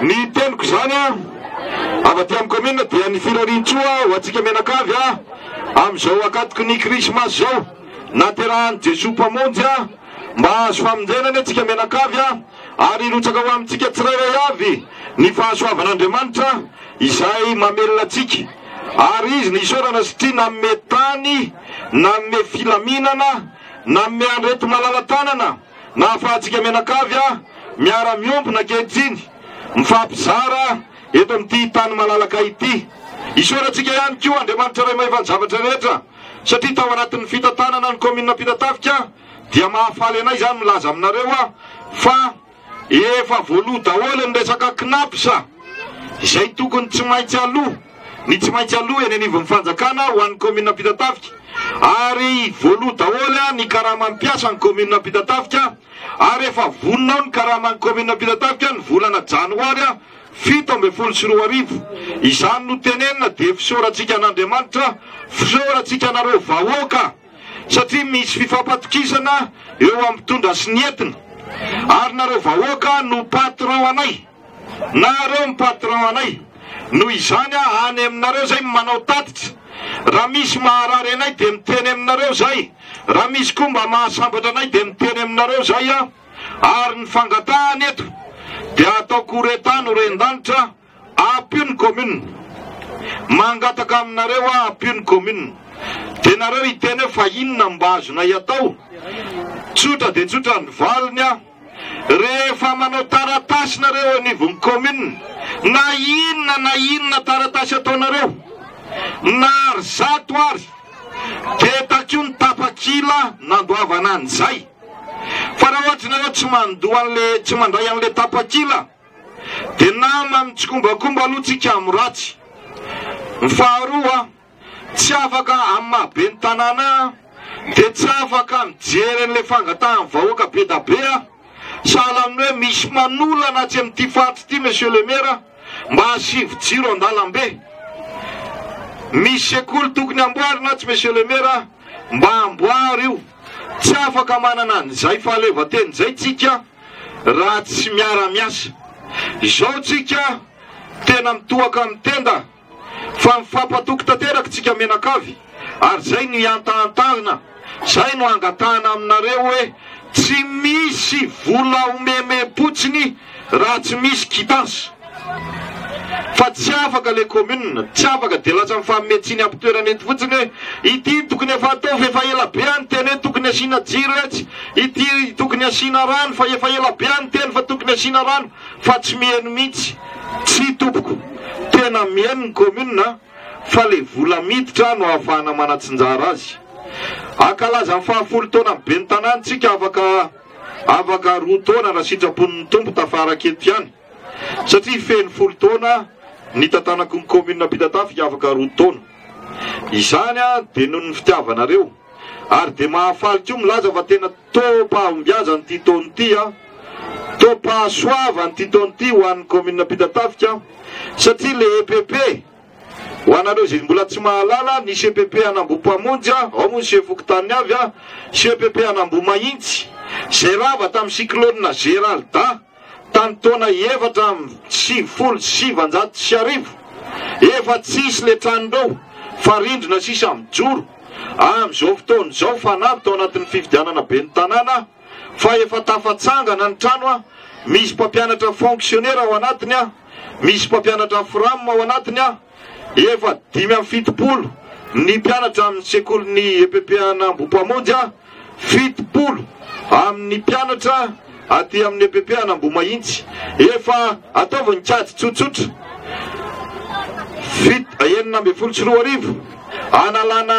Ny teniko izany a, avy aty amin'ny commune dia ny firarian-tsoa ho antsika mianakavy a, amin'izao akatoky ny krismasy izao naterahan'i Jesoa Mpamonjy a, mba hahazo famonjena anie tsika mianakavy a, ary hirotsaka ho amintsika tsirairay avy ny fahasoavan'Andriamanitra izay mamelona antsika, ary Izy no isaorana satria nanome tany, nanome filaminana, nanome areti-malala-tanana. Nahafahantsika mianakavy miara-miombona ankehitriny, mifampizara eto amin'ity tany malalaka ity. Isaorantsika ihany koa Andriamanitra Ray Maivan-javatra rehetra, satria tao anatin'ny fitantanana ny kaominina Ampitatafika dia mahafaly anay izany milaza aminareo fa efa voaloa daholo ny resaka CNAPS izay tokony tsy maintsy aloa. ny tsy maintsy aloa eny anivon'ny fanjakana ho an'ny kaominina Ampitatafika ary voaloa daholo ny karaman'ny mpiasa ny kaominina Ampitatafika ary efa vonona ao ny karaman'ny kaominina Ampitatafika ny volana janoary fito ambin'ny folo sy roa arivo izany no tenenina dia fisaorantsika an'Andriamanitra fisaorantsika anareo vahoaka satria misy fifampatokisana eo amin'ny mpitondra sy ny entiny ary nareo vahoaka no patron anay Nareo ny patron anay, noho izany aho any aminareo zay manao tatitra, raha misy maharary anay dia miteny aminareo zay, raha misy koa mba mahasambatra anay dia miteny aminareo zay aho, ary ny fangatahana eto dia hatao koretano ren-danitra apio ny commune, mangataka aminareo aho apio ny commune, dia nareo hiteny eo fa inona no mba azonay atao, tsotra dia tsotra ny valiny aho. Rehefa manao taratasy nareo eo anivon'ny commune, na inona na inona taratasy ataonareo, na ary zato ary, dia takio ny tapakila nandoavana an'izay. Fa raha ohatra nareo tsy mandoa an'le, tsy mandray an'le tapakila, dia nama mitsikombakomba aloha tsika amin'ny ratsy. Ny faharoa. tsy afaka amin'ny maha ben'ny tanàna aho dia tsy afaka mijery an'ilay fangatahan'ny vahoaka bedabe aho, sahala amin'ny hoe misy manolana atsy amin'ity faritra ity Monsieur le Maire mba hasivo jiro an-dalambe. Misy sekoly tokony hamboarina atsy Monsieur le Maire a! mba amboaro io, tsy afaka manana an'izay fahaleovantena izay tsika raha tsy miara-miasa. Izao tsika tena mitohaka amin'ny tenda. Fa mifampatoky tanteraka tsika mianakavy ary zay no iantahantarina, zay no angatahana aminareo hoe tsy misy vola omemem-potsiny raha tsy misy quittance fa tsy afaka le commune, tsy afaka de latsa mifanome tsiny ampitoerana eto fotsiny hoe ity tokony efa atao fa efa ela be aho niteny hoe tokony asiana jiro etsy, ity tokony asiana rano fa efa ela be aho niteny fa tokony asiana rano. fa tsy miheno mihitsy, tsia tompoko, tena miheno ny commune fa le vola miditra no ahafahana manatsinjara azy, ankalaza ny faha folo taonan'ny ben'ny tanàna tsika afaka afaka roa taona raha sitrapon'ny Tompo tafaraka eto ihany satria feno folo taona ny tantanaky ny commune Ampitatafika afaka roa taona izany dia noho ny fitiavanareo ary dia mahafaly koa milaza fa tena Toham-pahombiazana ity taona ity an! Toham-pahasoavana ity taona ity ho an'ny kaominina Ampitatafika an! Satria ilay EPP, ho anareo izay mbola tsy mahalala, nisy EPP an'Ambohipamonjy an, ao moa ny Sefo fokontany avy an, sy EPP an'Ambohimahintsy, izay rava tamin'ny cyclone Geralda. Tamin'ny taona efatra amby sivifolo sy sivanjato sy arivo, efa tsisy le tranondreo fa rindrina sisa mijoro. Amin'izao fotoana izao fanamby tao anatin'ny fifidianana ben'ny tanàna fa efa tafatsangana ny trano, misy mpampianatra fonctionnaire ao anatiny, misy mpampianatra fram ao anatiny. Efa dimy amby fitopolo ny mpianatra amin'ny sekolin'ny EPP-an'Ambohipamonja, fitopolo amin'ny mpianatra aty amin'ny EPP-an'Ambohimahitsy. Efa ataovy ny kajy tsotsotra, fit, enina ambin'ny folo sy roa arivo, analana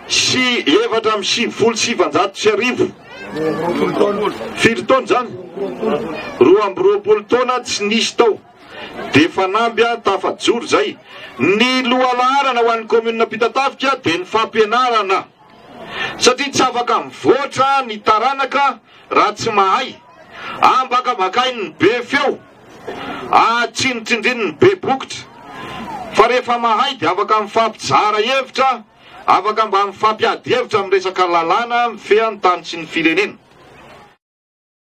sy efatra amby sivifolo sy sivinjato sy arivo, firy taona izany? roa amby roapolo taona tsy nisy tao. Dia fanamby aho tafajoro izay. Ny lohalaharana ho an'ny kaominina Ampitatafika dia ny fampianarana satria tsy afaka mivoatra ny taranaka raha tsy mahay. Ambakabakain'ny be feo, atsindritsindrin'ny be bokotra fa rehefa mahay dia afaka mifampizara hevitra, afaka mba mifampiady hevitra amin'ny resaka lalàna mifeha ny tany sy ny firenena.